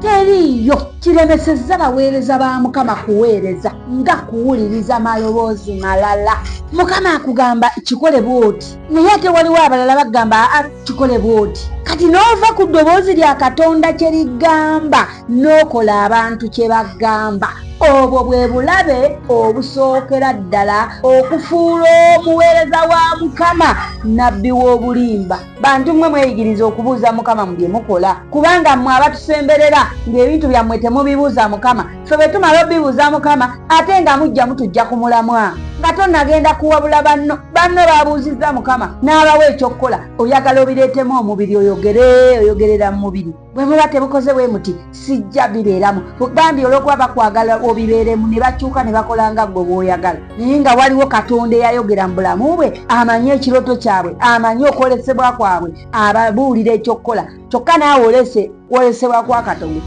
teriiyo kiremesezza baweereza ba mukama kuweereza nga kuwuliriza maloboozi malala mukama akugamba kikole bwoti naye ate waliwo abalala bagamba a kikole bwoti kati n'ova ku ddoboozi lya katonda kye ligamba n'okola abantu kye bagamba obwo bwe bulabe obusookera ddala okufuula omuweereza wa mukama nabbi w'obulimba bantu mmwe mweyigiriza okubuuza mukama mu bye mukola kubanga mmwe abatusemberera ng'ebintu byammwe temubibuuza mukama fe bwe tumala obibuuza mukama ate nga mujja mutujja ku mulamwa nga tonagenda kuwabula banno banno babuuzizza mukama n'abawa ekyokukola oyagala obireetemu omubiri oyogere oyogerera mu mubiri bwe muba tebukoze bwe muti sijja bibeeramu bambi olwokuba bakwagala obibeeremu ne bakyuka ne bakola nga gwe bwoyagala naye nga waliwo katonda eyayogera mu bulamu bwe amanyi ekiroto kyabwe amanyi okwolesebwa kwabwe ababuulira ekyokukola kyokka naawe olese kwolesebwa kwa katonda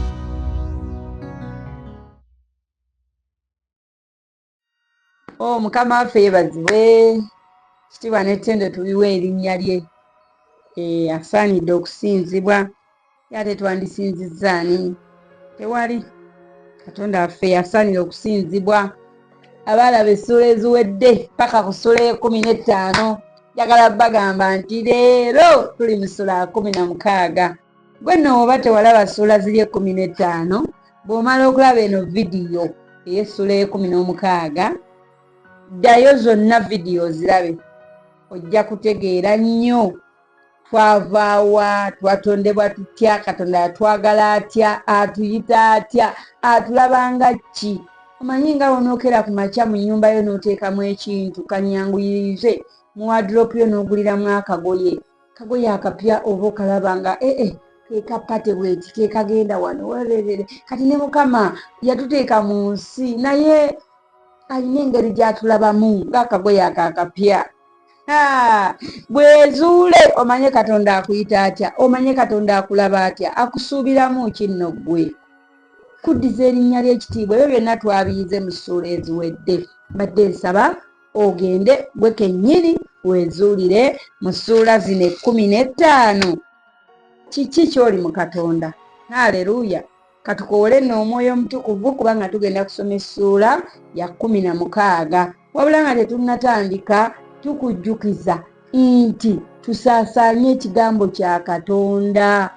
oh, mukama waffe yebazibwe kitiibwa n'ettendo tubiwa erinnya lye eh, asaanidde okusinzibwa ate twandisinzizza ani tewali katonda waffe yasaanira okusinzibwa abaalaba essuula eziwedde paka ku ssuula ekumi n'ettaano njagala bagamba nti leero tuli mu ssuula kumi na mukaaga Gwe nno woba tewalaba ssuula ziri ekkumi n'ettaano bw'omala okulaba eno vidiyo ey'essuula ey'ekkumi n'omukaaga ddayo zonna vidiyo ozirabe ojja kutegeera nnyo twavaawa twatondebwa tutya katonda yatwagala atya atuyita atya atulabanga ki omanyi nga wonookera ku makya mu nnyumba yo n'oteekamu ekintu kanyanguyirize mu wadropu yo n'oguliramu akagoye kagoye akapya oba okalaba nga ee eh, eh, kekapate bweti kekagenda wano wererere kati ne mukama yatuteeka mu nsi naye alina engeri gyatulabamu ngaakagoye ako akapya bwezuule omanye katonda akuyita atya omanye katonda akulaba atya akusuubiramu kinno ggwe kuddiza erinnya ly'ekitiibwa ebyo byonna twabiyize mu ssuula eziwedde mbadde nsaba ogende gwe kennyini weezuulire mu ssuula zino ekkumi n'ettaano kiki ky'oli mu katonda haleluya katukowole nno omwoyo omutukuvu kubanga tugenda kusoma essuula ya kkumi na mukaaga wabula nga tetunnatandika tukujjukiza nti tusaasaanye ekigambo kya katonda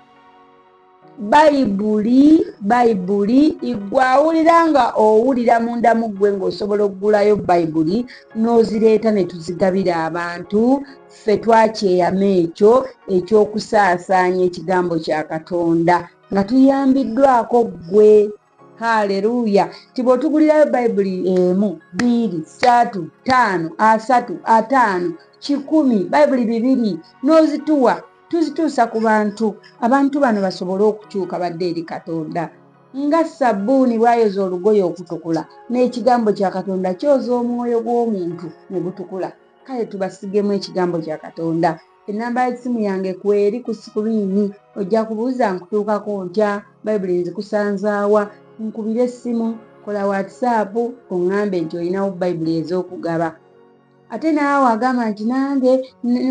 bayibuli bayibuli igwe awulira nga owulira munda mu ggwe ng'osobola okugulayo bayibuli n'ozireeta ne tuzigabira abantu ffe twakyeyama ekyo eky'okusaasaanya ekigambo kya katonda nga tuyambiddwako ggwe haleluya nti bw'otugulirayo bayibuli emu biiri saatu taano asatu ataano kikumi bayibuli bibiri n'ozituwa tuzituusa ku bantu abantu bano basobole okukyuka badde eri katonda nga sabbuuni bw'ayoza olugoye okutukula n'ekigambo kya katonda kyoza omwoyo gw'omuntu ne gutukula kale tubasigemu ekigambo kya katonda ennamba y'essimu yange kweri ku sikuriini ojja kubuuza nkutuukako ntya bayibuli nzikusanzaawa nkubira essimu kola watisaapu oŋŋambe nti olinawo bayibuli ez'okugaba ate naawe agamba nti nange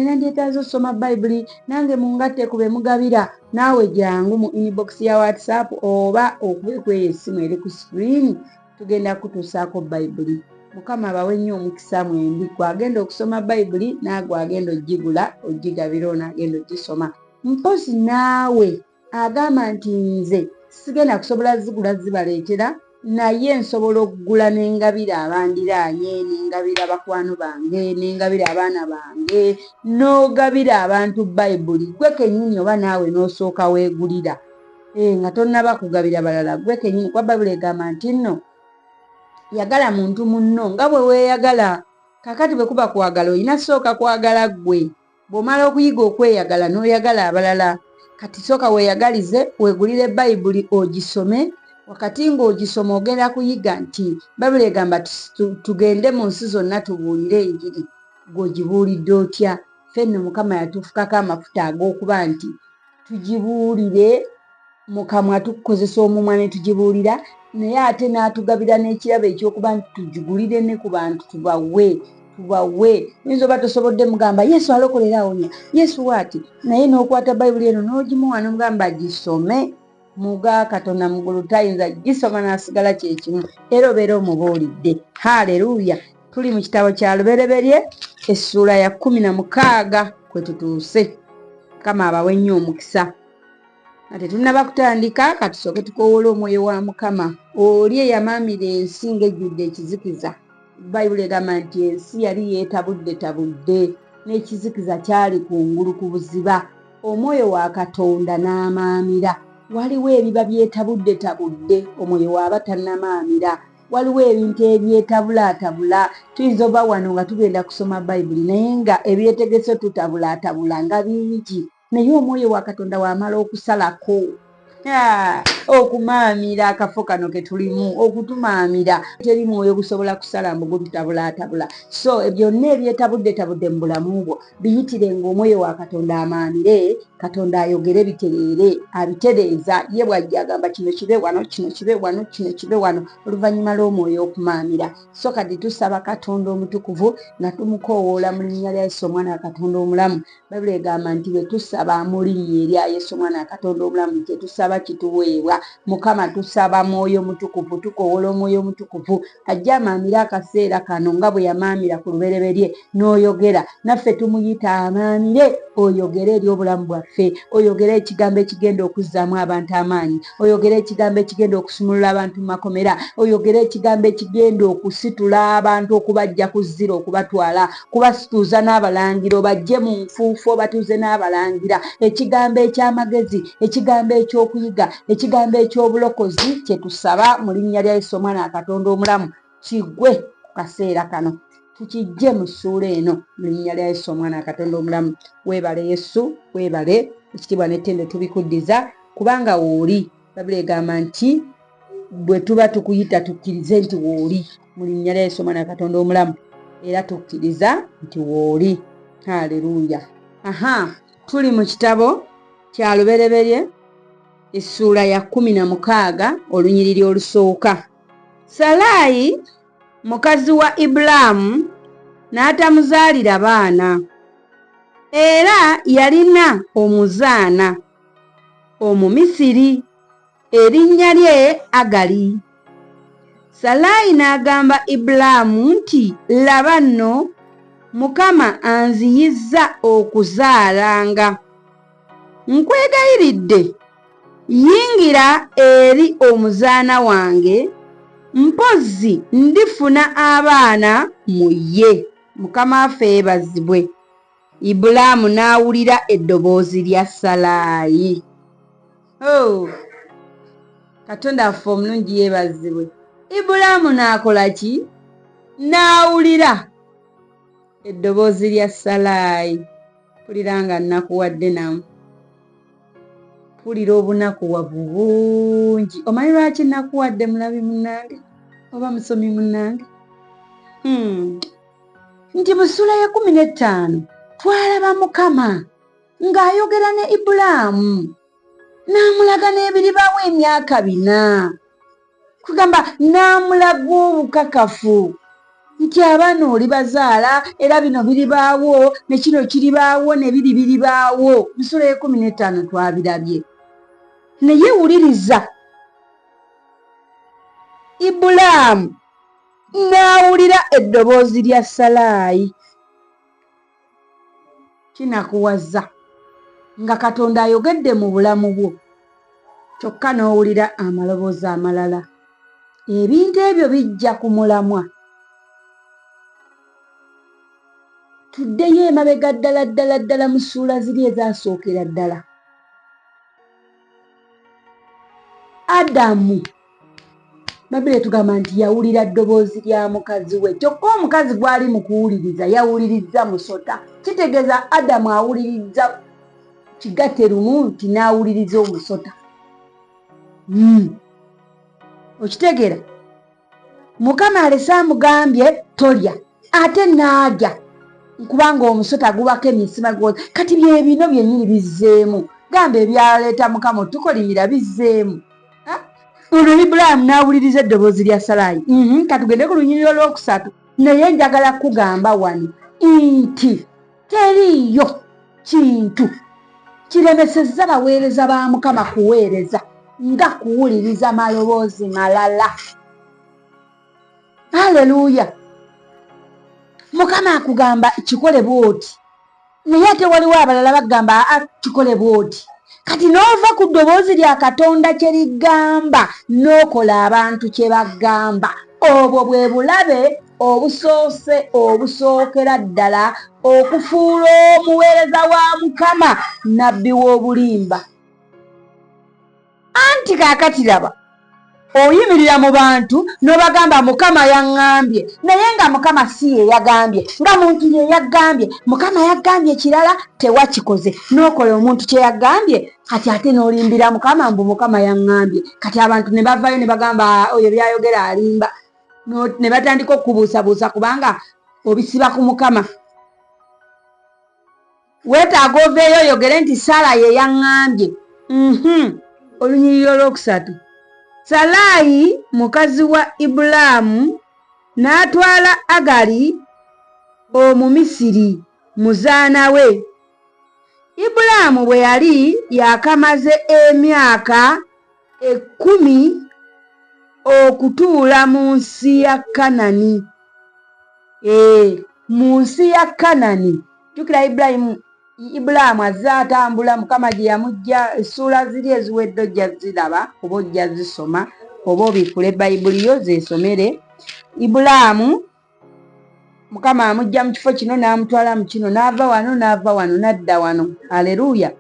nandyetaaza okusoma bayibuli nange mungatte ku be mugabira naawe jangu mu inibokisi ya watisaapu oba okube kweyo essimu eri ku sikuriini tugenda kutuusaako bayibuli mukama abawe nnyo omukisa mwembi gwagenda okusoma bayibuli naagwe agenda ogigula ogigabira ono agenda ogisoma mpozi naawe agamba nti nze sigenda kusobola zigula zibaleetera naye nsobola okugula nengabira abandiraanye nengabira bakwano bange nengabira abaana bange n'ogabira abantu bayibuli gwe kenyini oba naawe n'osooka weegulira eh, nga tonnaba kugabira balala gwe kenyini kuba bayibuli egamba nti nno yagala muntu munno nga bwe weeyagala kakati bwe kuba kwagala olina sooka kwagala ggwe bw'omala okuyiga okweyagala n'oyagala abalala kati sooka weeyagalize weegulire bayibuli ogisome wakati ng'ogisoma ogenda kuyiga nti bayibuli egamba tugende mu nsi zonna tubuulire enjiri gweogibuulidde otya fenno mukama yatufukako amafuta ag'okuba nti tugibuulire mu kamwa tukukozesa omumwa ne tugibuulira naye ate n'atugabira n'ekirabo ekyokuba nti tugigulire ne ku bantu tubawe tubawe oyinza oba tosobodde mugamba yesu alokolera awonya yesu waati naye n'okwata bayibuli eno n'ogimuwa nomugamba gisome muga katonda mugulu tayinza gisoma nasigala kyekimu era obeera omubuulidde haleluya tuli mu kitabo kya lubereberye essuula ya kumi na mukaaga kwe tutuuse kama abawe nnyo omukisa nga tetunnaba kutandika katusooke tukowoola omwoyo wa mukama oli eyamaamira ensi ng'ejjudde ekizikiza bayibuli egamba nti ensi yali yeetabudde tabudde n'ekizikiza kyali ku ngulu ku buziba Omwoyo wa Katonda n'amaamira. Waliwo ebiba byetabuddetabudde omwoyo waaba tannamaamira. Waliwo ebintu ebyetabulaatabula. Tuyinza oba wano nga tugenda kusoma Bayibuli naye nga ebyetegeso tutabulaatabula nga bingi, naye omwoyo wa Katonda w'amala okusalako, okumaamira akafo kano ketulimu okutumaamira teri mwoyo gusobola kusala mbu gututabulaatabula so e byonna ebyetabuddetabudde mu bulamu bwo biyitire ngaomwoyo wa katonda amaamire katonda ayogere bitereere abitereeza ye bwajja agamba kino kibe wano kino kibe wano kino kibe wano oluvannyuma lw'omwoyo okumaamira so kati tusaba katonda omutukuvu nga tumukoowoola mu linnya lya yesu omwana wa katonda omulamu Bayibuli egamba nti bwe tusaba mu linnya erya Yesu omwana wa Katonda omulamu kye tusaba kituweebwa. Mukama tusaba mwoyo mutukuvu, tukowoola omwoyo omutukuvu ajje amaamire akaseera kano nga bwe yamaamira ku lubereberye n'oyogera naffe. Tumuyita amaamire oyogere eri obulamu bwaffe, oyogere ekigambo ekigenda okuzzaamu abantu amaanyi, oyogere ekigambo ekigenda okusumulula abantu mu makomera, oyogere ekigambo ekigenda okusitula abantu okubajja ku zzira okubatwala kubasituuza n'abalangira obajje mu nfuufu obatuuze n'abalangira ekigambo eky'amagezi ekigambo eky'okuyiga ekigambo eky'obulokozi kye tusaba mu linnya lya yesu omwana wa katonda omulamu kigwe ku kaseera kano tukijje mu ssuula eno mu linnya lya yesu omwana wa katonda omulamu weebale yesu weebale ekitiibwa n'ettendo tubikuddiza kubanga wooli babula egamba nti bwe tuba tukuyita tukkirize nti wooli mu linnya lya yesu omwana katonda omulamu era tukkiriza nti wooli haleluya aha tuli mu kitabo kya lubereberye essuula ya kumi na mukaaga olunyiriri olusooka salaayi mukazi wa ibulaamu n'atamuzaalira baana era yalina omuzaana Omumisiri erinnya lye Agali. Salaayi n'agamba Ibulaamu nti, Laba nno, Mukama anziyizza okuzaalanga. Nkwegayiridde, yingira eri omuzaana wange, mpozzi ndifuna abaana mu ye. Mukama waffe yeebazibwe. Ibulaamu n'awulira eddoboozi lya Salaayi. Oh, Katonda waffe omulungi yeebazibwe. Ibulaamu n'akola ki? N'awulira eddoboozi lya Salaayi. Mpulira nga nnakuwadde namu. Mpulira obunakuwavu bungi. Omanyi lwaki nnakuwadde mulabi munnange oba musomi munnange? Hmm. nti mu ssuula y'ekkumi n'ettaano twalaba mukama ng'ayogera ne ibulaamu n'amulaga n'ebiribaawo emyaka bina kugamba n'amulaga obukakafu nti abaana oli bazaala era bino biribaawo ne kino kiribaawo ne biri biribaawo musula ekumi n'ettaano twabirabye naye wuliriza ibulaamu n'awulira eddoboozi lya Salaayi. Kinakuwaza nga Katonda ayogedde mu bulamu bwo kyokka n'owulira amaloboozi amalala. Ebintu ebyo bijja ku mulamwa. Tuddeyo emabega ddala ddala ddala mu ssuula ziri ezaasookera ddala. adamu babire tugamba nti yawulira ddoboozi lya mukazi we kyokka omukazi gwali mu kuwuliriza yawulirizza musota kitegeeza adamu awulirizza kigatte lumu nti n'awuliriza omusota hmm. okitegeera mukama alese amugambye tolya ate naalya nkubanga omusota gubako emisima gwoza kati byebino byenyini bizzeemu gamba ebyaleeta mukama otukolimira bizzeemu ono ibulayimu n'awuliriza eddoboozi lya salaayi mhm, katugende ku lunyiriro lwokusatu naye njagala kugamba wano nti teriiyo kintu kiremesezza baweereza ba mukama kuweereza nga kuwuliriza maloboozi malala aleluuya mukama akugamba kikole bwoti naye ate waliwo abalala bagamba a ah, kikole bwoti kati n'ova ku ddoboozi lya katonda kye ligamba n'okola abantu kye bagamba obwo bwe bulabe obusoose obusookera ddala okufuula omuweereza wa mukama nabbi w'obulimba anti kaakati laba oyimirira mu bantu n'obagamba mukama yaŋŋambye naye nga mukama si ye yagambye nga muntu ye yaggambye mukama yaggambye kirala tewakikoze n'okola omuntu kye yaggambye kati ate n'olimbira mukama mbu mukama yaŋŋambye kati abantu ne bavayo ne bagamba oyo byayogera alimba ne batandika okukubuusabuusa kubanga obisiba ku mukama weetaaga oveeyo oyogere nti sara ye yaŋŋambye mhm. olunyiriri olwokusatu salaayi mukazi wa ibulaamu n'atwala agali omumisiri muzaana we ibulaamu bwe yali yakamaze emyaka ekkumi okutuula mu nsi ya kanani ee mu nsi ya kanani jukira ibulayimu ibulaamu azze atambula mukama gye yamujja essuula ziri eziwedde ojja ziraba oba ojja zisoma oba obikule bayibuli yo zesomere ibulaamu mukama amujja mu kifo kino n'amutwala mu kino n'ava wano n'ava wano n'adda wano aleluya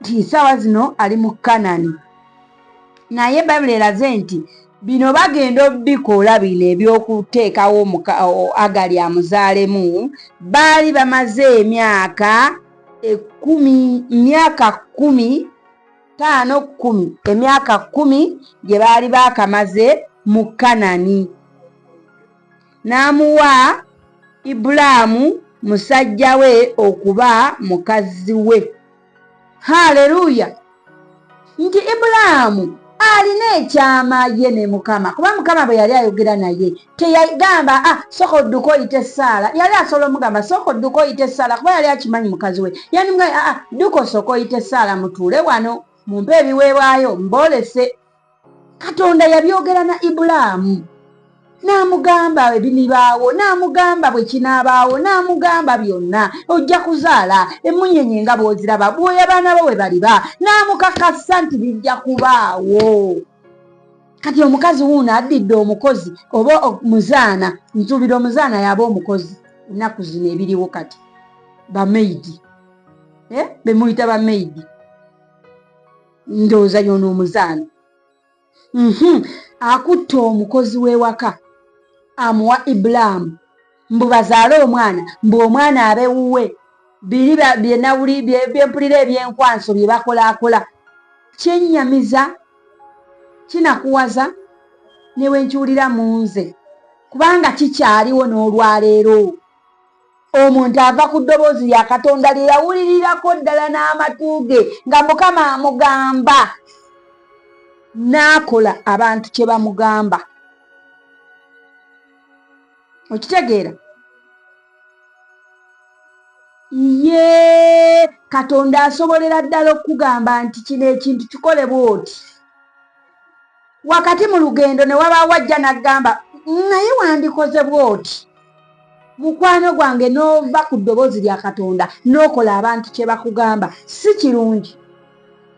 nti nsaawa zino ali mu kanani naye bayibuli eraze nti bino bagenda obikola bino ebyokuteekawo agali amuzaalemu baali bamaze emyaka ekumi myaka kumi taano kumi emyaka kumi gye baali baakamaze mu kanani n'amuwa Ibulaamu musajja we okuba mukazi we. Haleluya! Nti Ibulaamu alina ekyama ye ne Mukama, kuba Mukama bwe yali ayogera naye teyagamba ah, sooka odduka oyite Saala. Yali asobola omugamba sooka odduka oyite Saala kuba yali akimanyi mukazi we. Yandimugaa ah, ah, dduka osooka oyite Saala mutuule wano mumpe ebiweebwayo mboolese. katonda yabyogera na ibulaamu n'amugamba ebinibaawo n'amugamba bwe kinaabaawo n'amugamba byonna ojja kuzaala emmunyenye nga bw'oziraba bwoya baana bo bwe baliba n'amukakasa nti bijja kubaawo kati omukazi wuuno addidde omukozi oba muzaana nsuubira omuzaana yaba omukozi ennaku zino ebiriwo kati bamaidi eh? bemuyita bamaidi ndowooza yono omuzaana mhm. akutte omukozi w'ewaka amuwa ibulaamu mbu bazaale omwana mbu omwana abewuwe biri byenawuli byempulira ebyenkwanso bye bakolaakola kyennyamiza kinakuwaza ne bwe nkiwulira mu nze kubanga kikyaliwo n'olwaleero Omuntu ava ku ddoboozi lya Katonda lye yawulirirako ddala n'amatu ge nga Mukama amugamba n'akola abantu kye bamugamba. Okitegeera? Yee, Katonda asobolera ddala okukugamba nti kino ekintu kikole bw'oti. wakati mu lugendo ne wabaawo ajja n'agamba naye wandikoze bw'oti mukwano gwange n'ova ku ddoboozi lya katonda n'okola abantu kye bakugamba si kirungi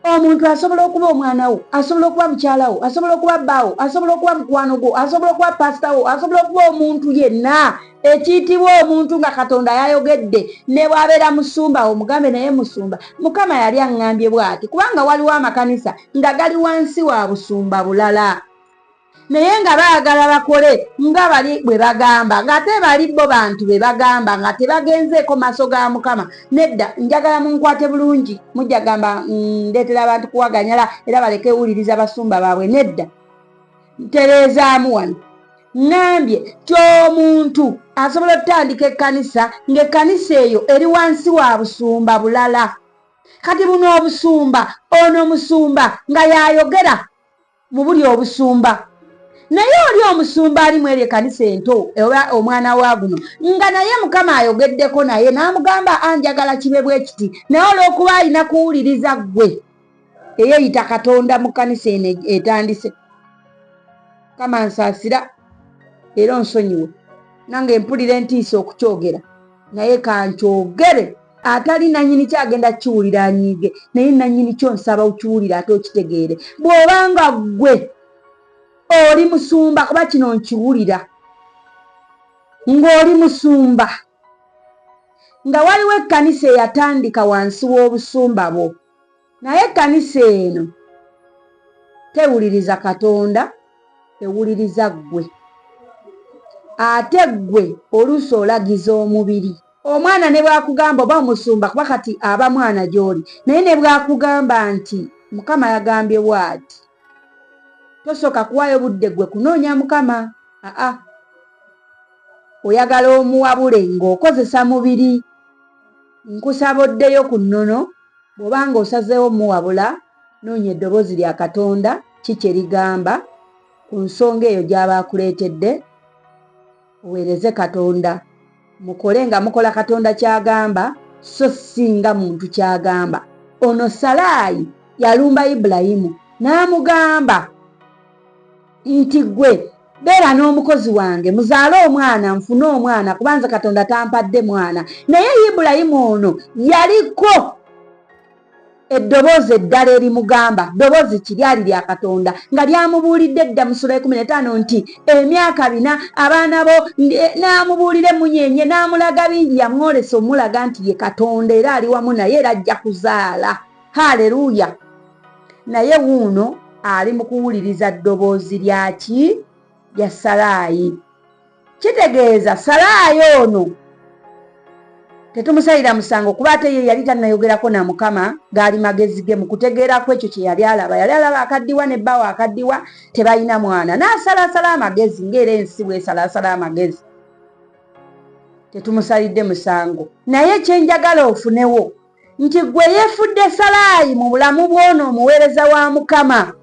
omuntu asobola okuba omwana wo asobola okuba mukyala wo asobola okuba bbaawo asobola okuba mukwano gwo asobola okuba paasita wo asobola okuba omuntu yenna ekiyitibwa omuntu nga katonda yayogedde ne bwabeera musumba omugambe naye musumba mukama yali aŋŋambye bwati kubanga waliwo amakanisa nga gali wansi wa busumba bulala naye nga baagala bakole nga bali bwe bagamba ng'ate bali bo bantu be bagamba nga tebagenzeeko maaso ga mukama nedda njagala munkwate bulungi mujja gamba mm, ndeetera abantu kuwaganyala era baleke wuliriza basumba baabwe nedda ntereezaamu wano ŋŋambye ti omuntu asobola okutandika ekkanisa ng'ekkanisa eyo eri wansi wa busumba bulala kati buno obusumba ono omusumba nga y'ayogera mu buli obusumba naye oli omusumba ali mu eryo ekkanisa ento oba omwana wa guno nga naye mukama ayogeddeko naye n'amugamba anjagala kibe bwe kiti naye olw'okuba alina kuwuliriza ggwe eyeyita katonda mu kanisa eno etandise kama nsasira era onsonyiwe nange mpulira entiisa okukyogera naye kankyogere atali nanyini kyagenda kiwulira anyiige naye nanyini kyo nsaba okiwulire ate okitegeere bw'obanga ggwe oli musumba kuba kino nkiwulira ng'oli musumba nga waliwo ekkanisa eyatandika wansi w'obusumba bwo naye ekkanisa eno tewuliriza katonda ewuliriza ggwe ate ggwe oluusi olagiza omubiri omwana ne bwakugamba oba omusumba kuba kati aba mwana gy'oli naye ne bwakugamba nti mukama yagambye bwati tosooka kuwayo budde gwe kunoonya mukama aa oyagala omuwabule ng'okozesa mubiri nkusaba oddeyo ku nnono bw'oba nga osazeewo muwabula noonya eddoboozi lya katonda ki kye ligamba ku nsonga eyo gy'aba akuleetedde Muweereze Katonda. Mukole nga mukola Katonda ky'agamba, so si nga muntu ky'agamba. Ono Salaayi yalumba Ibulayimu n'amugamba nti ggwe beera n'omukozi wange muzaale omwana nfune omwana kuba nze Katonda tampadde mwana. Naye Ibulayimu ono yaliko. eddoboozi eddala erimugamba ddoboozi ki lyali lya katonda nga lyamubuulidde edda mu sula ekumi netaano nti emyaka bina abaana bo eh, n'amubuulira emunyenye n'amulaga bingi yamwolesa omulaga nti ye katonda era ali wamu naye era ajja kuzaala haleluya naye wuuno ali mu kuwuliriza ddoboozi lyaki lya salaayi kitegeeza salaayo ono tetumusalira musango kuba ate ye yali tanayogerako na mukama gaali magezi ge mukutegeeraku ekyo kyeyali alaba yali alaba akaddiwa ne bbawo akaddiwa tebalina mwana n'asalasala amagezi ngaera ensi bwesalasala amagezi tetumusalidde musango naye kyenjagala ofunewo nti gwe yefudde salaayi mu bulamu bwona omuweereza wa mukama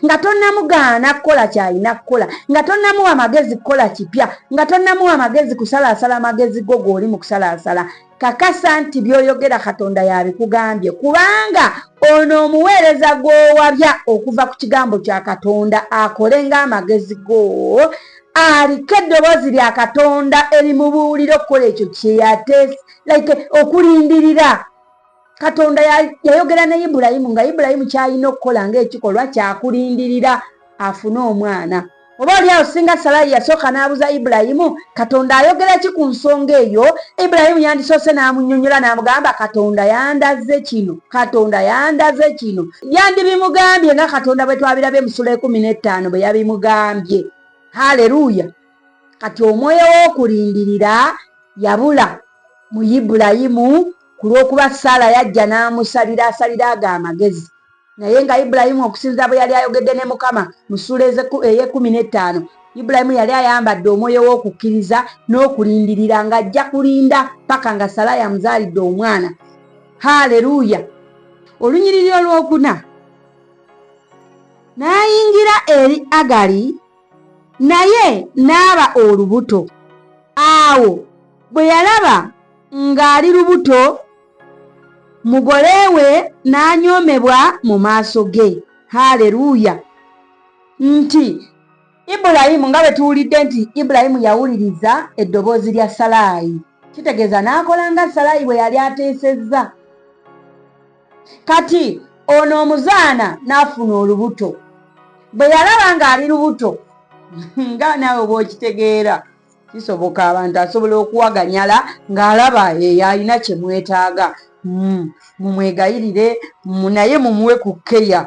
nga tonnamugaana kukola kyalina kukola nga tonnamuwa magezi kukola kipya nga tonnamuwa magezi kusalaasala magezi go g'oli mu kusalaasala kakasa nti by'oyogera katonda yabikugambye kubanga ono omuweereza gw'owabya okuva ku kigambo kya katonda akole ng'amagezi go aliko eddoboozi lya katonda erimubuulira okukola ekyo kyeyateesi like okulindirira katonda yayogera ne ibulayimu nga ibulayimu kyalina okukola ngaekikolwa kyakulindirira afune omwana oba oli awo singa salayi yasooka n'abuza ibulayimu katonda ayogera ki ku nsonga eyo ibulayimu yandisoose n'amunyonyola n'amugamba katonda yandaze kino katonda yandaze kino yandibimugambye nga katonda bwe twabirabye musula ekumi n'ettaano bwe yabimugambye haleluya kati omwoyo w'okulindirira yabula mu ibulayimu Ku lw'okuba Saala yajja n'amusabira asalire ago amagezi, naye nga Ibulayimu, okusinzira bwe yali ayogedde ne Mukama mu ssuula ey'ekkumi n'ettaano, Ibulayimu yali ayambadde omwoyo w'okukkiriza n'okulindirira, nga ajja kulinda paka nga Salaayi amuzaalidde omwana. Haleluya! Olunyiriri olw'okuna, N'ayingira eri Agali, naye n'aba olubuto. Awo bwe yalaba. ng'ali lubuto mugole we n'anyoomebwa mu maaso ge haleluya nti ibulayimu nga bwe tuwulidde nti ibulayimu yawuliriza eddoboozi lya salaayi kitegeeza n'akola nga salaayi bwe yali ateesezza kati ono omuzaana n'afuna olubuto bwe yalaba ng'ali lubuto nga naawe bw'okitegeera kisoboka abantu asobola okuwaganyala ng'alaba eyo alina kye mwetaaga hmm, mumwegayirire naye mumuwe ku keya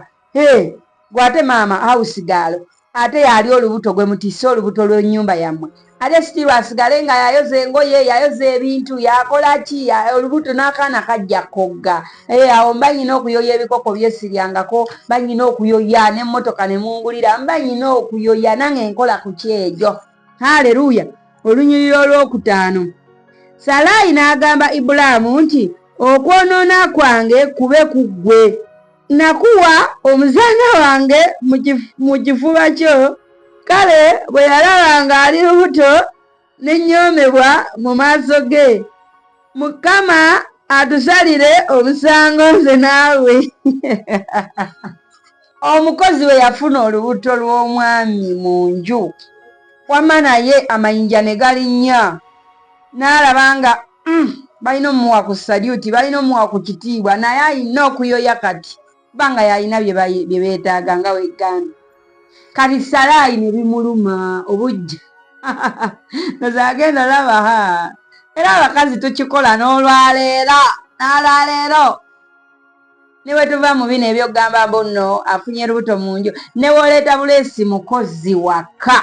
gwe ate maama hausigaalo ate yali olubuto gwe mutisse olubuto lw'ennyumba yammwe ate sitiirwa asigale nga yayoza engoye yayoza ebintu yakola ki olubuto n'akaana kajja kogga eh, awo mba nyina okuyoya ebikoko byesiryangako mba nyina okuyoya n'emmotoka ne mungulira mba nyina okuyoya nange nkola ku kyejo Haleluya! Olunyiriri olwokutaano. Salaayi n'agamba Ibulaamu nti, Okwonoona kwange kube ku ggwe. Nakuwa omuzaana wange mu kifuba kyo. Kale bwe yalaba ng'ali lubuto ne nnyoomebwa mu maaso ge. Mukama atusalire omusango nze naawe. omukozi we yafuna olubuto lw'omwami mu nju wamma naye amayinja ne galinnya n'alaba nga mm, balina omuwa ku salyuti balina omuwa ku kitiibwa naye alina okuyoya kati kuba nga yalina bye beetaaga nga weggambi kati salaayi ne bimuluma obujja noza agenda olaba ha era abakazi tukikola n'olwaleero n'alwaleero ne bwe tuva mu bino ebyokugamba mbu nno afunye lubuto mu nju ne woleeta buleesi mukozi waka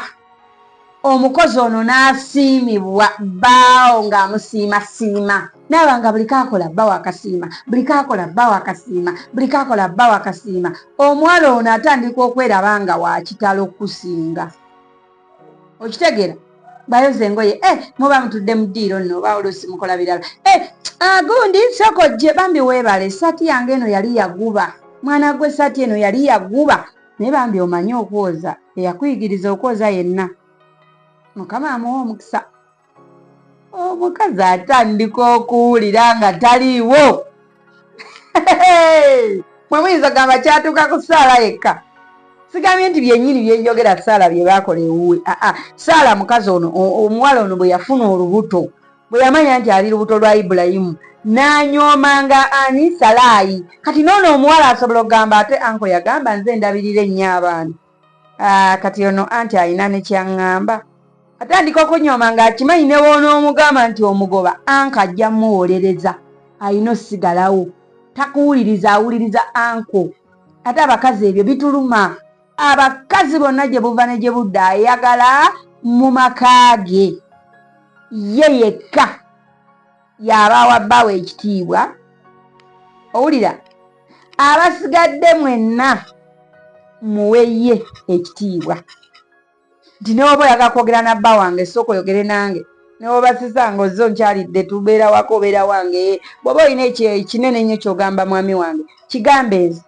omukozi ono n'asiimibwa bbaawo ng'amusiimasiima naaba nga buli kaakola bba wakasiima buli kaakola bba wakasiima buli kaakola bba wakasiima omuwala ono atandika okweraba nga wakitalo kusinga okitegeera bayoza engoye eh, muba mutudde mu ddiiro nno oba oluusi mukola birala eh, ah, gundi soko gye bambi weebale esaati yange eno yali yaguba mwana gwe esaati eno yali yaguba naye bambi omanyi okwoza eyakuyigiriza okwoza yenna mukama amuwa omukisa omukazi atandika okuwulira nga taliiwo mwe muyinza gamba kyatuuka ku saala yekka sigambye nti byenyini byenjogera saala bye baakola ewuwe aa ah, ah, saala mukazi ono omuwala ono bwe yafuna olubuto bwe yamanya nti ali lubuto lwa ibulayimu n'anyoomanga ani salaayi kati noono omuwala asobola okugamba ate anko yagamba nze ndabirira ennyo abaana Ah, kati ono anti alina nekyaŋŋamba atandika okunyooma ng'akimanyi ne woonoomugamba nti omugoba anka ajja muwolereza alina osigalawo takuwuliriza awuliriza anko ate abakazi ebyo bituluma abakazi bonna gye buva ne gye budda ayagala mu maka ge ye yekka y'abaawa bbaawe ekitiibwa owulira abasigadde mwenna muweye ekitiibwa nti newoba oyaga kwogera na bba wange sooka oyogere nange newoba sisanga ozze onkyalidde tubeera wako obeera wange bwoba olina ekinene nnyo kyogamba mwami wange kigambe nze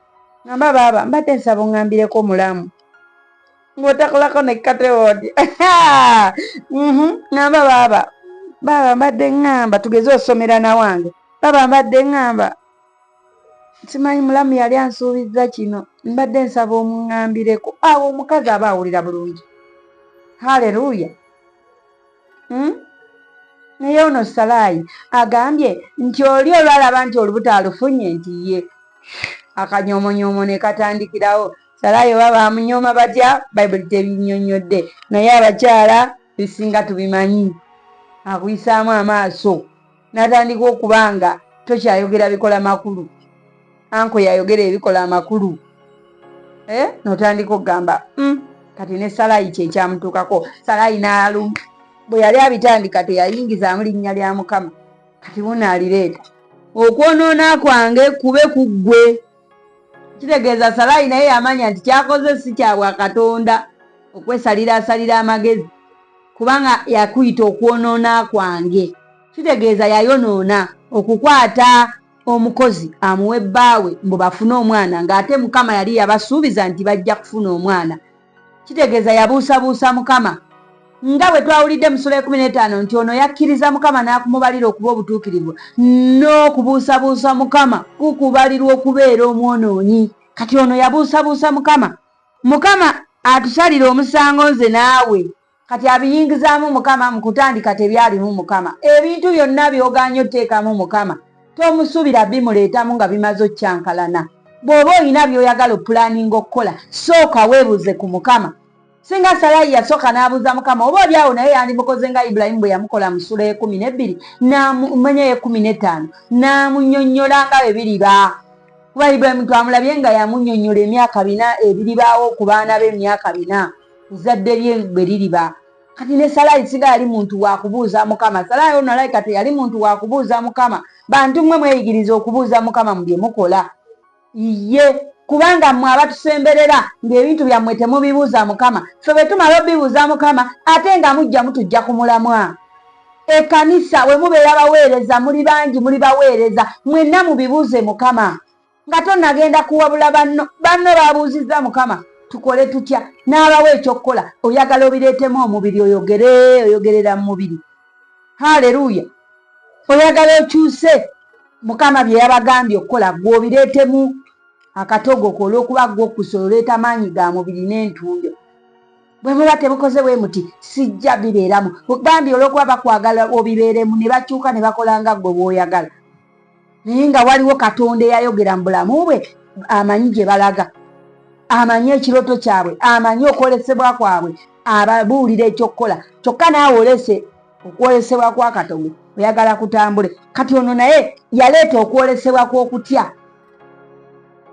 ngamba baaba mbadde nsaba ongambireko omulamu ng'otakolako ne katewoodi mhm. ngamba baaba baaba mbadde ŋŋamba tugeze osomera na wange baaba mbadde ŋŋamba simanyi mulamu yali ansuubizza kino mbadde nsaba omuŋambireko awo omukazi aba awulira bulungi haleluya hmm? naye ono salaayi agambye nti oli olwalaba nti olubuto alufunye nti ye akanyomonyoomo ne katandikirawo Salaayi oba baamunyooma batya Bayibuli tebinnyonnyodde naye abakyala ebisinga tubimanyi. Akuyisaamu amaaso n'atandika okuba nga tokyayogera bikola makulu. Anko yayogera ebikola amakulu eh, n'otandika okugamba hmm, kati ne Salaayi kye kyamutuukako. Salaayi n'alu bwe yali abitandika teyayingizaamu linnya lya Mukama, kati wuuno alireeta. Okwonoona kwange kube ku ggwe. kitegeeza salaayi naye yamanya nti kyakoze si kyabwa katonda okwesalira asalira amagezi kubanga yakuyita okwonoona kwange kitegeeza yayonoona okukwata omukozi amuwe bbaawe mbu bafune omwana ng'ate mukama yali yabasuubiza nti bajja kufuna omwana Kitegeeza yabuusabuusa Mukama. Nga bwe twawulidde mu Sula ekumi n'etaano nti ono yakkiriza Mukama n'akumubalira okuba obutuukirivu, n'okubuusabuusa Mukama kukubalirwa okubeera omwonoonyi. Kati ono yabuusabuusa Mukama. Mukama atusalire omusango nze naawe. kati abiyingizaamu mukama mukutandika tebyalimu mukama ebintu byonna byoganye oteekamu mukama tomusubira bimuleetamu nga bimaze okyankalana bw'oba olina byoyagala opulaninga okukola sooka weebuuze ku mukama singa salayi yasooka n'abuuza mukama oba oli awo naye yandimukoze nga ibulayimu bwe yamukola mu sula ekumi n'ebbiri namumanya yekumi n'ettaano n'amunyonnyola nga bwe biriba kuba ibulayimu twamulabye nga yamunyonnyola emyaka bina ebiribaawo ku baana be emyaka bina ezadde lye bwe liriba kati ne salaayi siga yali muntu wakubuuza mukama salaayi ono alayi kati yali muntu wakubuuza mukama bantu mmwe mweyigiriza okubuuza mukama mu bye mukola iye kubanga mmwe abatusemberera ng'ebintu byammwe temubibuuza mukama fe bwe tumala obibuuza mukama ate nga mujja mutujja ku mulamwa ekanisa wemubeera baweereza muli bangi muli baweereza mwenna mubibuuze mukama nga tonagenda kuwabula banno banno babuuzizza mukama tukole tutya n'abawa ekyokukola oyagala obireetemu omubiri oyogere oyogerera mu mubiri haleluya oyagala okyuse mukama bye yabagambye okukola gwe obireetemu akatogo ko olwokuba gwe okusa oleeta maanyi ga mubiri n'entundo bwe muba tebukoze bwe muti sijja bibeeramu ogambye olwokuba bakwagala obibeeremu ne bakyuka ne bakola nga gwe bwoyagala naye nga waliwo katonda eyayogera mu bulamu bwe amanyi gye balaga amanyi ekiroto kyabwe amanyi okwolesebwa kwabwe ababuulira ekyokukola kyokka naawe olese okwolesebwa kwa katogo oyagala kutambule kati ono naye yaleeta okwolesebwa kw'okutya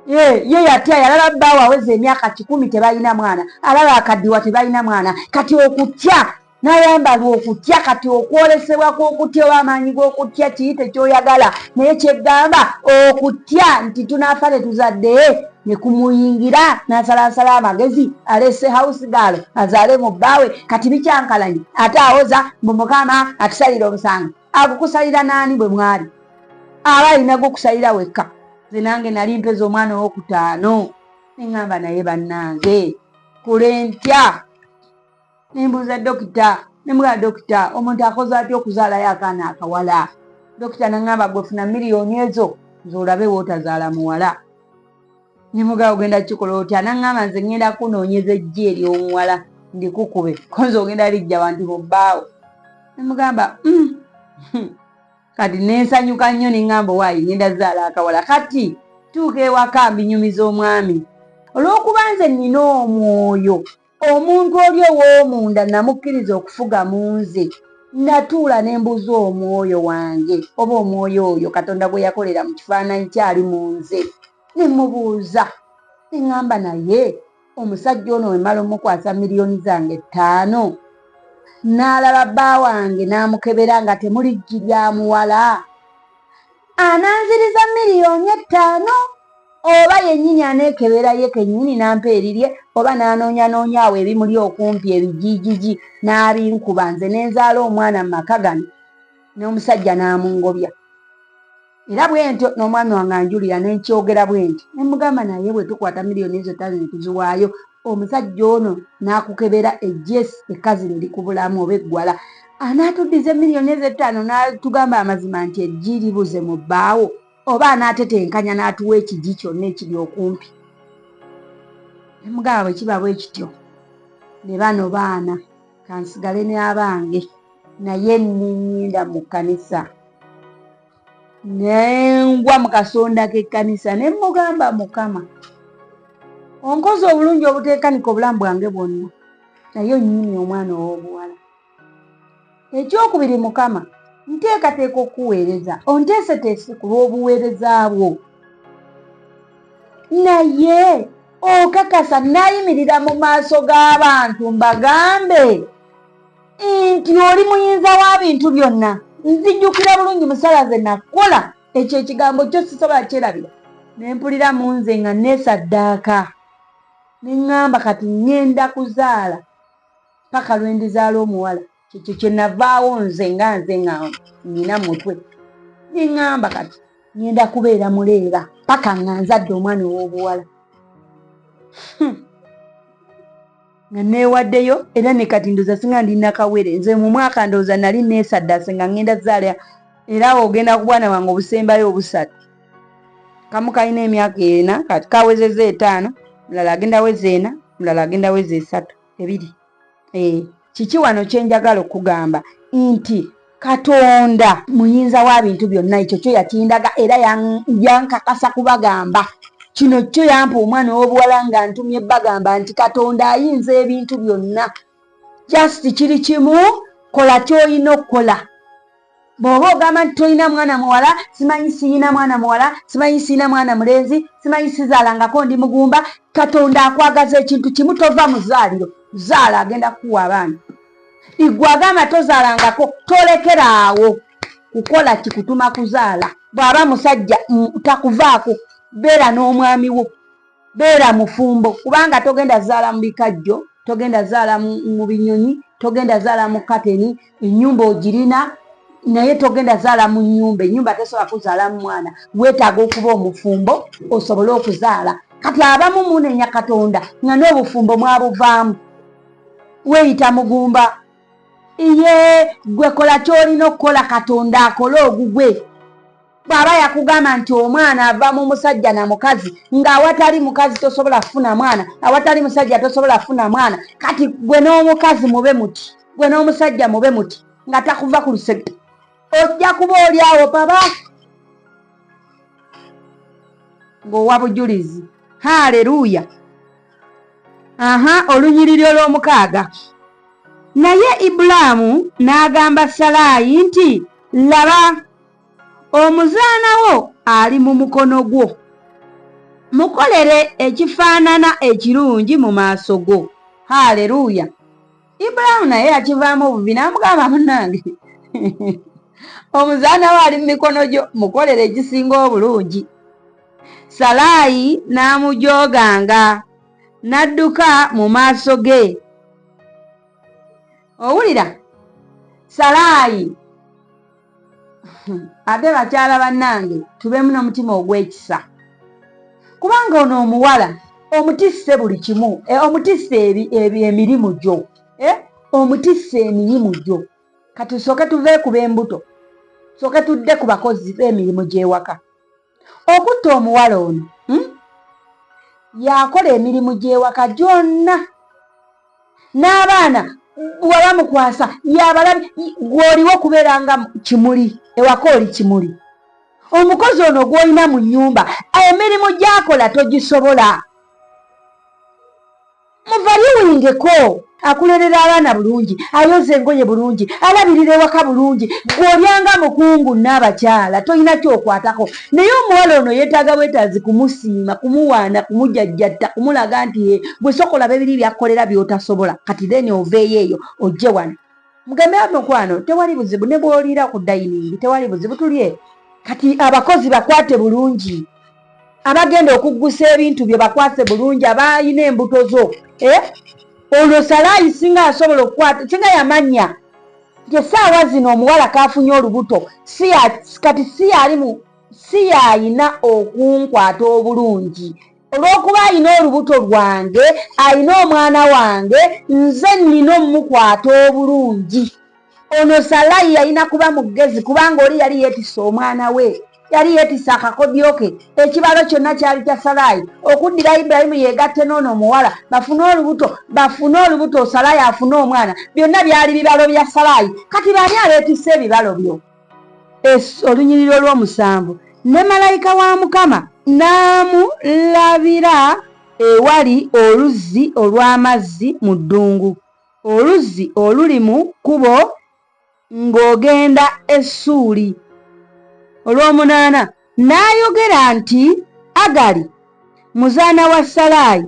ye yatya yalaba bbaawo aweza emyaka kikumi tebalina mwana alaba akaddiwa tebalina mwana kati okutya nayambala okutya kati okwolesebwa kwokutya oba amaanyi gokutya kiyite kyoyagala naye kyegamba okutya nti tunafa tetuzadde nekumuyingira nasalansala amagezi alese house gal azaale mu bbaawe kati bikyankalanye ate awoza mbu mukama atusalira omusango agukusalira naani bwe mwali aba alina gukusalira wekka ze nange nali mpeza omwana owokutaano neŋamba naye bannange kulentya nembuuza dokita nemugamba dokita omuntu akoze atya okuzaalayo akaana akawala dokita naŋamba gwefuna miliyoni ezo nze olabe wootazaala muwala nemugamba ogenda kukikola otya naŋamba nze ŋŋenda kunoonyeza ejji eryomuwala ndikukube konze ogenda lijja bantu bobbaawo nemugamba mm, hmm. kati nensanyuka nnyo neŋamba owaayi ŋenda zaala akawala kati tuuka ewaka mbinyumiza omwami olwokuba nze nina omwoyo omuntu oli ow'omunda namukkiriza okufuga mu nze natuula ne mbuuza omwoyo wange oba omwoyo oyo katonda gwe yakolera mu kifaananyi kyali mu nze ne mubuuza ne ŋŋamba naye omusajja ono wemala omukwasa miliyoni zange ttaano n'alaba bba wange n'amukebera nga temuli jji lya muwala ananziriza miliyoni ettaano oba yennyini aneekebera ye kennyini nampa erirye oba n'anoonyanoonya awo ebimuli okumpi ebijiijiji n'abinkuba nze ne nzaala omwana mu maka gano n'omusajja n'amungobya era bwe ntyo n'omwami wange anjulira ne nkyogera bwe nti ne mugamba naye bwe tukwata miliyoni ezo ttaano ne tuziwaayo omusajja ono n'akukebera ejjeesi ekkazi lye likubulamu oba eggwala Anaatuddiza emiliyoni ezo ettaano n'atugamba amazima nti eggi libuze mu bbaawo oba anaatetenkanya n'atuwa ekigi kyonna ekiri okumpi? Ne mugamba bwe kiba bwe kityo ne bano baana kansigale ne abange naye nninnyinda mu kkanisa. Ne ngwa mu kasonda k'ekkanisa ne mmugamba Mukama onkoze obulungi obuteekanika obulamu bwange bwonna naye onnyimye omwana ow'obuwala. Ekyokubiri, Mukama, nteekateeka okukuweereza, onteeseteese ku lw'obuweereza bwo. Naye okakasa nnayimirira mu maaso g'abantu mbagambe nti oli muyinza wa bintu byonna, nzijjukira bulungi musala ze nakola, ekyo ekigambo kyo sisobola kyerabira, ne mpulira mu nze nga neesaddaaka, ne ŋŋamba kati ŋŋenda kuzaala. paka lwendizaala omuwala kyekyo kyenavaawo nze nga nze nga nina mutwe neŋamba kati ngenda kubeera muleera paka nga nzadde omwana owobuwala hmm. nga newaddeyo era ne kati ndoza singa ndi nakawere nze mu mwaka ndoza nali nesaddase nga ngenda zaala era awo ogenda ku bwana wange obusembayo obusatu kamu kalina emyaka ena kati kawezeza etaano mulala agenda weza ena mulala agenda weza esatu ebiri eh, kiki wano kyenjagala okugamba nti katonda muyinza wa bintu byonna ekyo kyo yakindaga era yankakasa kubagamba kino kyo yampa omwana ow'obuwala nga ntumye bagamba nti katonda ayinza ebintu byonna just kiri kimu kola kyolina okukola bw'oba ogamba nti tolina mwana muwala simanyi siyina mwana muwala simanyi siyina mwana mulenzi simanyi sizaalangako ndi mugumba katonda akwagaza ekintu kimu tova mu zaaliro zaala agenda kuwa abaana igwe agamba tozaalangako tolekera awo kukola kikutuma kuzaala bw'aba musajja takuvaako beera n'omwami wo beera mufumbo kubanga togenda zaala mu bikajjo togenda zaala mu binyonyi togenda zaala mu kateni enyumba ogirina naye togenda zaala mu nyumba enyumba tesobola kuzaala mu mwana wetaaga okuba omufumbo osobole okuzaala kati abamu munenya katonda nga n'obufumbo mwabuvaamu weyita mugumba iye gwe kola kyolina okukola katonda akole ogugwe bw'aba yakugamba nti omwana ava mu musajja na mukazi ng'awatali mukazi tosobola kufuna mwana awatali musajja tosobola kufuna mwana kati gwe n'omukazi mube muti gwe n'omusajja mube muti nga takuva ku lusegge ojja kuba oli awo baba ng'owa bujulizi haleluya aha olunyiriri olw'omukaaga naye ibulaamu n'agamba salaayi nti laba omuzaana wo ali mu mukono gwo mukolere ekifaanana ekirungi mu maaso go haleluya ibulaamu naye yakivaamu obubi n'amugamba munange omuzaana wo ali mu mikono gyo mukolere ekisinga obulungi salaayi n'amujooganga n'adduka mu maaso ge owulira salaayi ate bakyala bannange tubeemu n'omutima ogw'ekisa kubanga ono omuwala omutisse buli kimu eh, omutisse emirimu gyo eh, omutisse emirimu gyo kati sooke tuveekuba embuto sooke tudde ku bakozi b'emirimu gy'ewaka okutta omuwala ono hmm? yakola emirimu gy'ewaka gyonna n'abaana waba mukwasa yabalabi gw'oliwo kubeera nga kimuli ewaka oli kimuli omukozi ono gw'olina mu nnyumba emirimu gyakola togisobola muvaliwingeko akulerera abaana bulungi ayoza engoye bulungi alabirira ewaka bulungi gweolyanga mukungu naabakyala tolina kyokwatako naye omuwala ono yetaaga bwetaazi kumusiima kumuwaana kumujajjatta kumulaga nti e gwe soka olaba ebiri byakkolera byotasobola kati then oveeyo eyo ojje wano mugambe mukwano tewali buzibu ne bwoliira ku dayiningi tewali buzibu tulye kati abakozi bakwate bulungi abagenda okuggusa ebintu byo bakwase bulungi abaalina embuto zo eh? olwo salaayi singa asobola okukwata singa yamanya nti essaawa zino omuwala kaafunye olubuto kati si yali mu si yalina okunkwata obulungi olw'okuba alina olubuto lwange alina omwana wange nze nnina omukwata obulungi ono salayi yalina kuba mugezi kubanga oli yali yetisa omwana we yali yetisa akakodyo ke ekibalo kyonna kyali kya salayi okuddira ibulayimu yegatte noono omuwala bafune olubuto bafune olubuto salayi afune omwana byonna byali bibalo bya salayi kati baani abetisa ebibalo byo olunyiriro olwomusanvu ne malayika wa mukama n'amulabira ewali oluzzi olw'amazzi mu ddungu Oluzzi oluli mu kkubo ng'ogenda e Ssuuli. Olw'omunaana n'ayogera nti, Agali, muzaana wa Salaayi,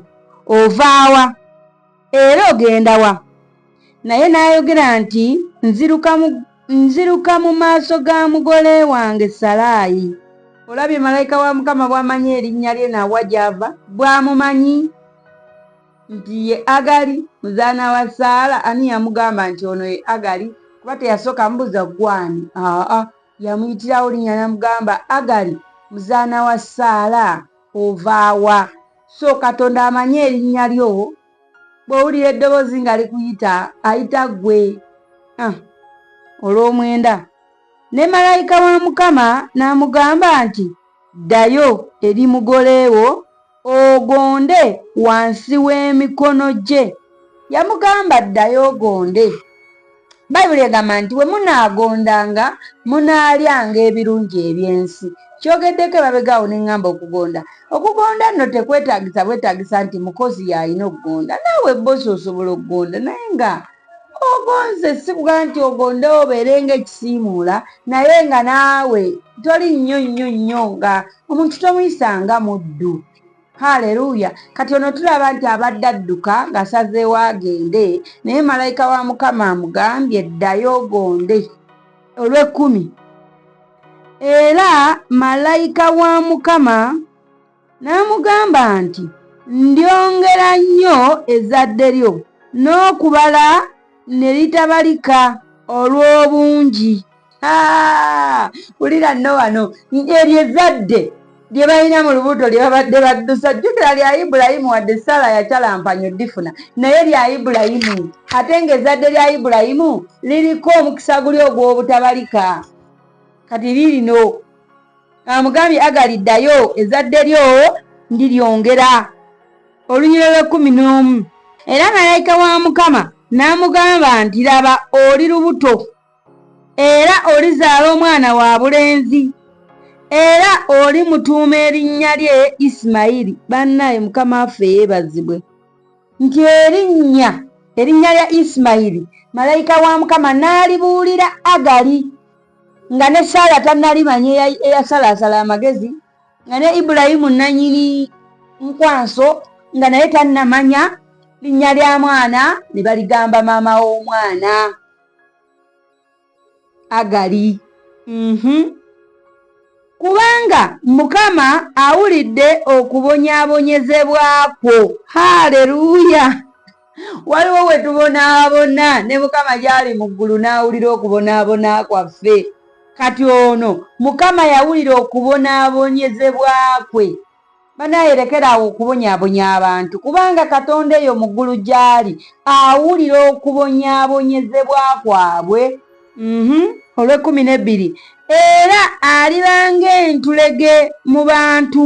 ova wa, era ogenda wa? Naye n'ayogera nti, Nziruka mu, nziruka mu maaso ga mugole wange Salaayi. Olabye malayika wa Mukama bw'amanyi erinnya lye na wa gy'ava? Bw'amumanyi. nti ye agali muzaana wa saala ani yamugamba nti ono ye agali kuba teyasooka mubuuza gwani aa yamuyitirawo linya namugamba agali muzaana wa saala ovaawa so katonda amanyi erinnya lyo bwowulira eddoboozi nga likuyita ayita gwe ah, olw'omwenda ne malayika wa mukama n'amugamba nti ddayo eri mugoleewo ogonde wansi w'emikono gye yamugamba ddayo ogonde bayibuli egamba nti bwe munaagondanga munaalyanga ebirungi eby'ensi kyogeddeko ebabegaawo ne ŋŋamba okugonda okugonda nno tekwetaagisa bwetaagisa nti mukozi y'alina okugonda naawe bbosi osobola okugonda naye nga ogonze sikuga nti ogonde obeere nga ekisiimuula naye nga naawe toli nnyo nnyo nnyo nga omuntu tomuyisa nga muddu haleluya kati ono tulaba nti abadde adduka ng'asazeewo agende naye malayika wa mukama amugambye ddayo ogonde olw'ekkumi era malayika wa mukama N'amugamba nti, Ndyongera nnyo ezzadde lyo, n'okubala ne litabalika olw'obungi. Wulira nno wano, eryo ezzadde lye balina mu lubuto lye babadde baddusa. Jjukira lya Ibulayimu, wadde Saala yacalampanyo ddifuna, naye lya Ibulayimu. Ate ng'ezzadde lya Ibulayimu liriko omukisa guli ogw'obutabalika. Kati liirino. amugambye agali ddayo ezadde lyo ndiryongera olunyiro lw'ekkumi n'omu era malayika wa mukama n'amugamba nti laba oli lubuto era olizaala omwana wa bulenzi era oli mutuuma erinnya lye isimayiri bannaye mukama waffe yeebazibwe nti erinnya erinnya lya isimayiri malayika wa mukama n'alibuulira agali nga ne saala tannali manyi eyasalaasala amagezi nga ne ibulayimu nanyini nkwanso nga naye tannamanya linnya lya mwana ne baligamba maama w'omwana agali mhm. kubanga mukama awulidde okubonyabonyezebwa kwo haleluya waliwo we tubonaabona ne mukama gy'ali mu ggulu n'awulira okubonaabona kwaffe kati ono mukama yawulira okubonaabonyezebwa kwe banayerekeraawo okubonyabonya abantu kubanga katonda eyo mu ggulu gy'ali awulira okubonyabonyezebwa kwabwe mhm. olw'ekkumi n'ebbiri era aliba ng'entulege mu bantu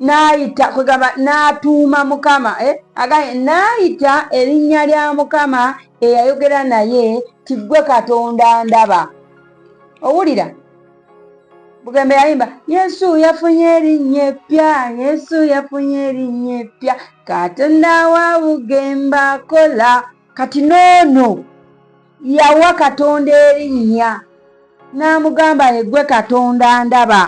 n'ayita kwegamba n'atuuma mukama eh? agambye n'ayita erinnya lya mukama eyayogera naye tiggwe katonda ndaba owulira bugembe yayimba yesu yafunye erinnya eppya yesu yafunye erinnya eppya katonda wa bugembe akola kati noono Yawa Katonda erinnya n'amugamba nti ggwe Katonda ndaba.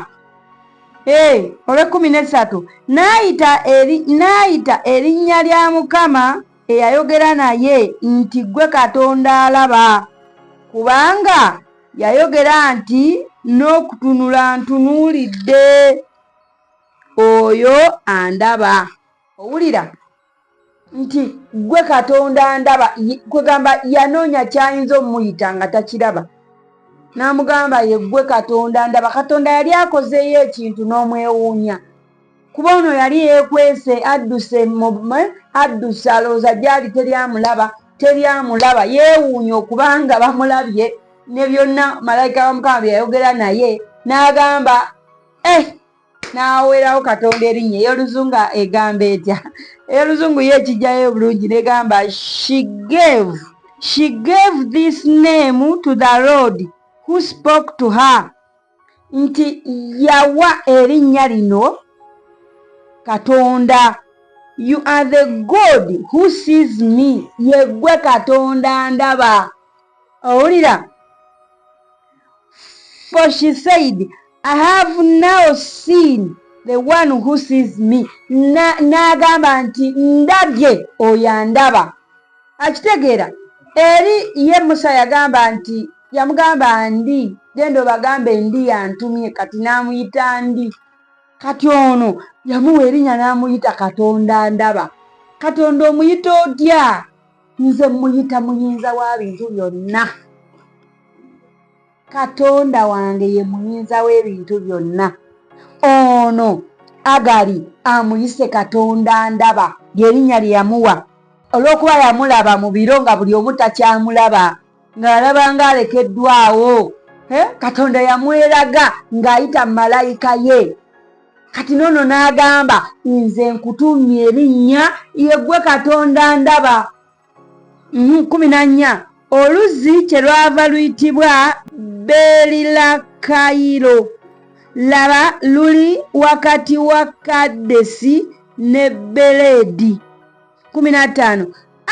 Ee, olw'ekkumi n'essatu n'ayita erinnya lya Mukama eyayogera naye nti ggwe Katonda alaba, kubanga yayogera nti n'okutunula ntunuulidde oyo andaba. Owulira? nti gwe katonda ndaba kwegamba yanoonya kyayinza omuyita nga takiraba n'amugamba ye gwe katonda ndaba katonda yali akozeeyo ekintu n'omwewuunya kuba ono yali yekwese adduse adduse alowooza gyali teri amulaba teri amulaba yeewuunya okubanga bamulabye ne byonna malayika wa mukama bye yayogera naye n'agamba eh n'awerawo katonda erinnya ey'oluzungu egamba etya ey'oluzungu ye ekijjayo obulungi negamba she gave she gave this name to the road who spoke to her nti yawa erinnya lino katonda you are the god who sees me yeggwe katonda ndaba owulira For she said, I have now seen the one who sees me. N'agamba nti ndabye oyo andaba. Akitegeera eri ye Musa yagamba nti yamugamba ndi genda obagambe ndi yantumye kati n'amuyita ndi. Kati ono yamuwa erinnya n'amuyita Katonda ndaba. Katonda omuyita otya? nze muyita muyinza wa bintu byonna katonda wange ye muyinza w'ebintu byonna ono agali amuyise katonda ndaba lyerinnya lye yamuwa olw'okuba yamulaba mu biro nga buli omu takyamulaba ng'alaba ng'alekeddwawo katonda yamweraga ng'ayita malayika ye kati noono n'agamba nze nkutumye erinnya yeggwe katonda ndaba mhm, kumi na nnya oluzzi kye lwava luyitibwa beerila kayiro laba luli wakati wa kaddesi ne beleedi kumi na ttaano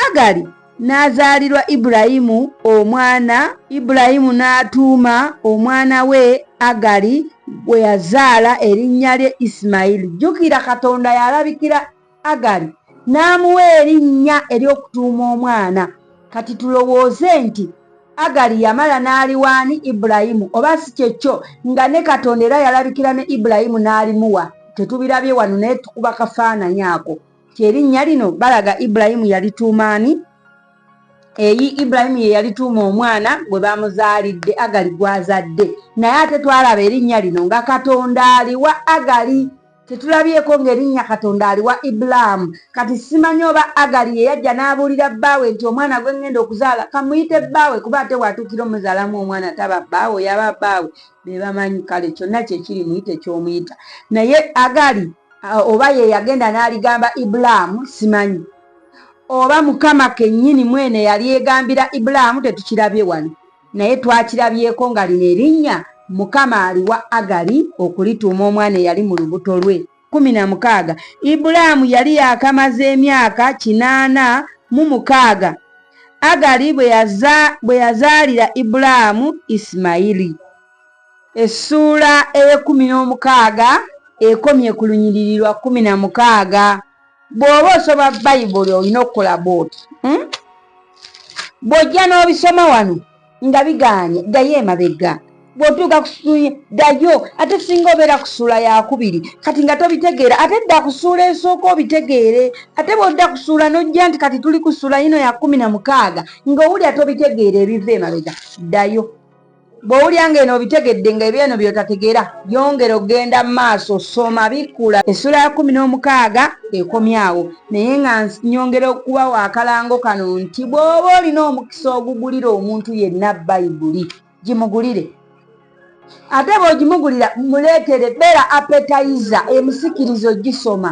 Agali n'azaalirwa Ibulayimu omwana, Ibulayimu n'atuuma omwana we Agali gwe yazaala erinnya lye Isimayiri. Jjukira Katonda yalabikira Agali n'amuwa erinnya ery'okutuuma omwana. Kati tulowooze nti Agali yamala n'aliwaani Ibulayimu, oba si kye kyo nga ne Katonda era yalabikira ne Ibulayimu n'alimuwa. Tetubirabye wano naye tukuba kafaananyi ako. nti erinnya lino balaga ibulayimu yalituuma ani eyi ibulayimu ye yalituuma omwana gwe bamuzaalidde agali gwazadde naye ate twalaba erinnya lino nga katonda aliwa agali tetulabyeko ng'erinnya katonda aliwa ibulaamu kati simanyi oba agali ye yajja n'abuulira bbaawe nti omwana gwe ŋŋenda okuzaala kamuyite bbaawe kuba ate waatuukira omuzaalamu omwana taba bbaawe yaba bbaawe be bamanyi kale kyonna kyekiri muyite ky'omuyita naye agali oba ye yagenda n'aligamba ibulaamu simanyi oba mukama kennyini mwene yalyegambira ibulaamu tetukirabye wano naye twakirabyeko nga lino erinnya mukama aliwa agali okulituuma omwana eyali mu lubuto lwe kumi na mukaaga ibulaamu yali yakamaze emyaka kinaana mu mukaaga agali bwe yazaalira ibulaamu isimayiri Essuula ey'ekkumi n'omukaaga ekomye ku lunyiriri lwa kkumi na mukaaga. Bw'oba osoma Bayibuli olina okukola bw'oti. Hmm? Bw'ojja n'obisoma wano nga bigaanye, ddayo emabega. Bw'otuuka ku ssuula, ddayo. Ate singa obeera ku ssuula yakubiri, kati nga tobitegeera, ate dda ku ssuula esooka obitegeere. Ate bw'odda ku ssuula n'ojja nti kati tuli ku ssuula yino ya kkumi na mukaaga, ng'owulira tobitegeera ebiva emabega, ddayo. bw'owulira nga eno obitegedde nga ebyo eno byotategera yongera okugenda mu maaso soma bikkula essula ya kumi n'omukaaga ekomyawo naye nga nyongera okuba wakalango kano nti bw'oba olina omukisa ogugulira omuntu yenna bayibuli gimugulire ate bw'ogimugulira muleetere beera apetayiza emusikiriza ogisoma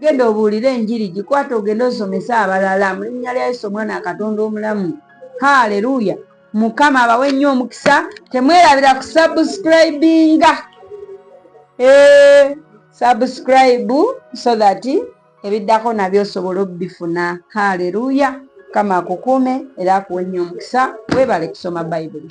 genda obuulire enjiri gikwata ogende osomese abalala mu linnya lya yesu omwana akatonda omulamu haleluya mukama abawe nnyo omukisa temwerabira ku subscribinga eh, subscribe so that ebiddako nabyo osobola obifuna haleluya mukama akukuume era akuwe nnyo omukisa webale kusoma bayibuli